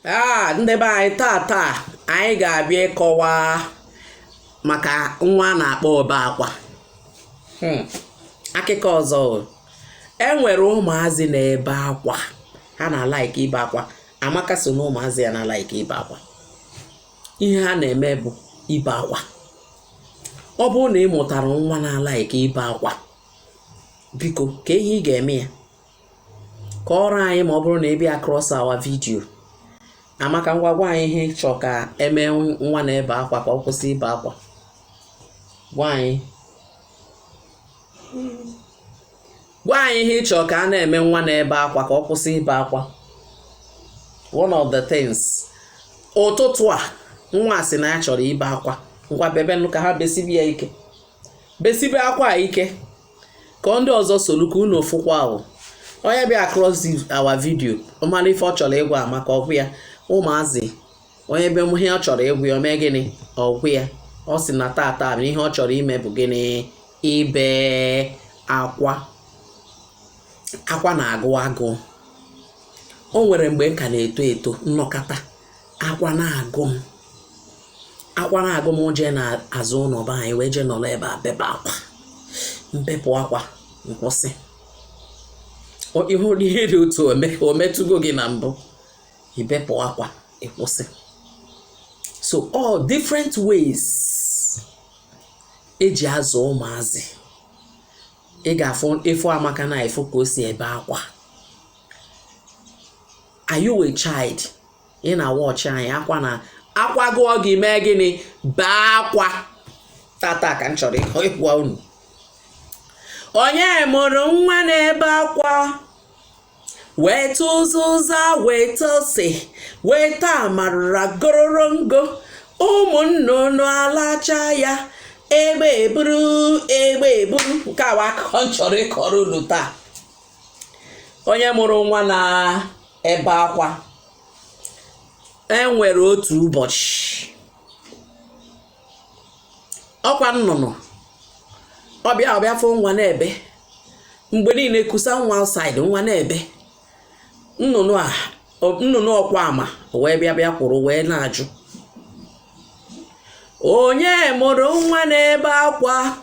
a ndị be anyị taa taa anyị ga-abịa ịkọwa maka nwa a na-akpọ obe akwa hmm. akụkọ ọzọ e nwere ụmụazị na-ebe akwa ha na-alaiki ibe akwa amaka so na ụmụazị ya na-alaiki ibe akwa ihe ha na-eme bụ ibe akwa ọ bụrụ na ị mụtara nwa na-alaiki ibe akwa biko kee ihe ị ga-eme ya kọọrọ anyị ma ọ bụrụ na ị bịa across our video amaka ngwa gwa anyị ihe ị chọ ka e mee nwa na-ebe akwa ka ọ kwụsị ibe akwa gwa anyị gwa anyị ihe ị chọ ka a na-eme nwa na-ebe akwa ka ọ kwụsị ibe akwa one of the things ụtụtụ a nwa sị na ya chọrọ ibe akwa ngwa bebenụ akwa besibe ya ike besibe akwa ike ka ndị ọzọ solu ka unu fụkwa ahụ onye bịa across our video ọ mara ife ọ chọrọ ịgwa amaka ọ gwa ya ụmụazị onye be ihe ọ chọrọ ịgwa ya o mee gịnị ọ gwa ya ọ sị na tata ihe ọ chọrọ ime bụ gịnị ibe akwa akwa na-agụ agụ o nwere mgbe m ka na-eto eto m nọkata akwa na-agụ m akwa na-agụ m jee n'azụ ụlọ be anyị wee jee nọrọ ebe a bebe akwa m bepụ akwa m kwụsị ị hụrụ ihe dị otu o metụgo gị na mbụ i bepụ akwa ị kwụsị so all different ways e ji azụ ụmụazị ị ga-afụ ị fụ amaka na ị fụ ka o si ebe akwa are you a child ị na-awatch anyị akwa na akwa gụọ gị mee gịnị bee akwa tata ka m chọrọ ịgwa unu onye mụrụ nwa na-ebe akwa weta ụzụza weta ose weta amarara gororongo ụmụnnụnụ alacha ya egbe eburu egbe eburu nke a bụ akụkọ m chọrọ ịkọrọ unu taa onye mụrụ nwa na-ebe akwa e nwere otu ụbọchị ọkwa nnụnụ ọ bịa ọ bịa fụ nwa na-ebe mgbe niile e kusa nwa outside nwa na-ebe nnụnụ a nnụnụ ọkwa ama wee bịa bịa kwụrụ wee na-ajụ onye mụrụ nwa na-ebe akwa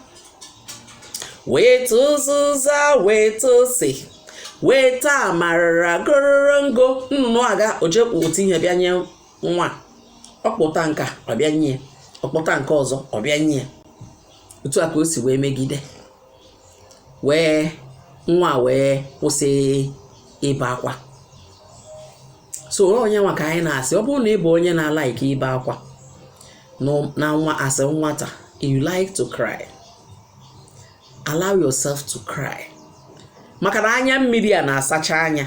weta ụzụza weta ose weta amarara gororongo nnụnụ agaa o je kpụ otu ihe bịa nye nwa ọ kpụta nke a ọ bịa nye ọ kpụta nke ọzọ ọ bịa nye otu a ka o si wee megide wee nwa wee kwụsị ibe akwa so onye nwa ka anyị na-asị ọ bụrụ na ị bụ onye na-alaiki ibe akwa na nwa as a nwata you like to cry allow yourself to cry maka na anya mmiri a na-asacha anya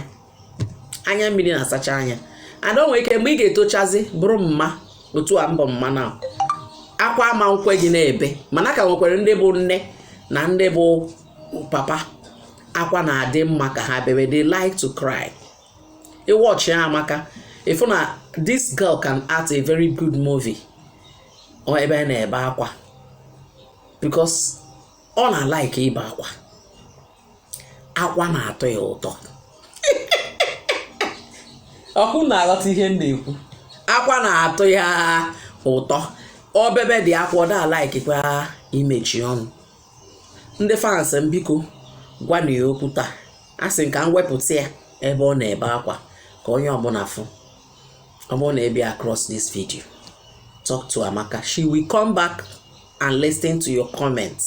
anya mmiri na-asacha anya and o nwere ike mgbe ị ga-etochazi bụrụ mma otu a m bụ mma na akwa ama nkwe gị na-ebe mana a ka nwekwara ndị bụ nne na ndị bụ papa akwa na-adị mma ka ha bebe they like to cry ị wọchịa Amaka ị fụ na this girl can act a very good movie ọ ebe a na-ebe akwa because ọ na-alaiki ibe akwa akwa na-atọ ya ụtọ ọkwa unu na-aghọta ihe m na-ekwu akwa na-atọ ya ụtọ ọ bebedị akwa ọ da-alaikikwa imechi ọnụ ndị fans m biko gwanụ ya okwu taa asị m ka m wepụta ya ebe ọ na-ebe akwa ka onye ọbụla fụ ọ bụrụ na ị bịa across this video talk to Amaka she will come back and listen to your comments.